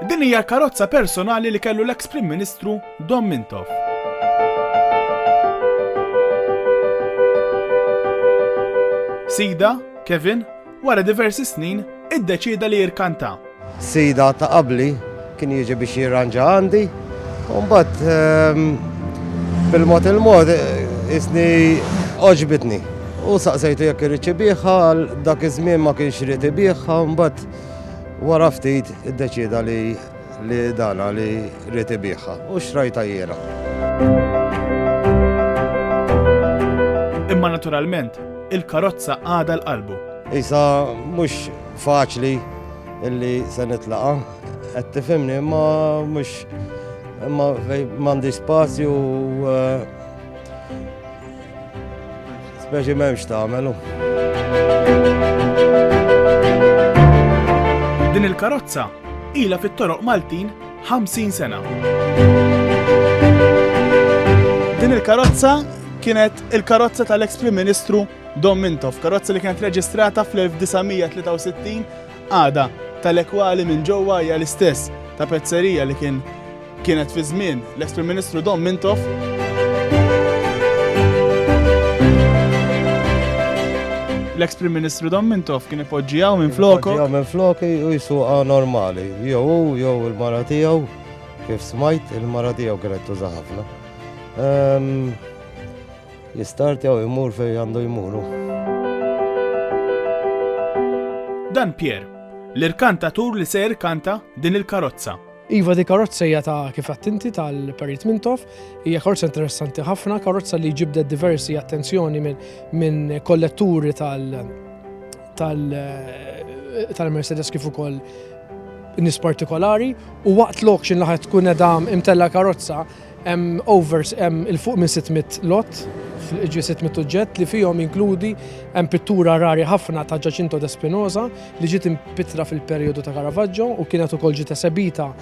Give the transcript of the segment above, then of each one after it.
Din hija l-karozza personali li kellu l-eks Prim Ministru Dom Mintoff. Sida, Kevin, Wara diversi snin, iddeċieda li jirkanta. Sida ta' qabli kien jiġi biex jirranġa għandi, u mbagħad ehm, bil-mod il-mod isni oġbitni. U saqsejtu jekk irid ibiħha, dak iż-żmien ma kienx irid ibiħha, mbagħad wara ftit iddeċieda li Li dana li ried ibiegħha u xtrajtha jiena. Imma naturalment, il-karozza għadha l-qalbu. Isa mhux faċli illi se nitlaqha. Qed tifhimni imma mhux imma m'għandix spazju eh, Speċi m'hemmx tagħmelu. Din il-karozza ila fit-toroq Maltin 50 sena. Din il-karozza kienet il-karozza tal-ex Prim Ministru Dom Mintoff, karozza li kienet reġistrata fl-1963 Qagħda ta' l-ekwali minn ġewwa hija l-istess ta' pezzerija li kien kienet fi żmien l-eks Prim Ministru Dom Mintoff. L-eks Prim Ministru Dom Mintoff kien ipoġġi hawn minn floku. Ġew minn floki u jsuqha normali. Jew hu jew il-mara tiegħu, kif smajt, il-mara tiegħu kienet tuża ħafna. Ehm, L-istart jew imur fejn għandu jmuru. Dan Pier, l-irkantatur li se jirkanta din il-karozza. Iva di karozza hija ta' kif attinti tal-Perit Mintoff, hija karozza interessanti ħafna, karozza li ġibdet diversi attenzjoni minn kolletturi tal-Mercedes kif ukoll nis partikolari u waqt l-auction laħet tkun edha imtella karozza Hemm over hemm il fuq minn 600 lott, ġi 600 uġġett li fihom jinkludi hemm pittura rari ħafna ta' Ġaċinto de Spinoza li ġiet impittra fil-perjodu ta' Caravaggio u kienet ukoll ġiet esebita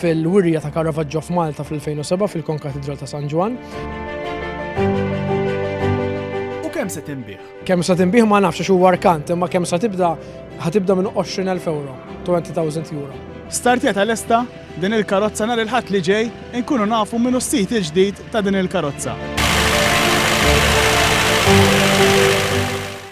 fil-wirja ta' Caravaggio f'Malta fl-2007 fil-Konkatidral ta' San Ġwann. U kemm se tinbiegħ? Kemm sa tinbih ma nafx għax huwa rkant, imma kemm sa tibda ħatibda minn 20,000 euro, 20,000 euro. Startjeta lesta din il-karozza nhar il-Ħadd li ġej inkunu nafu min hu s-sid il-ġdid ta' din il-karozza.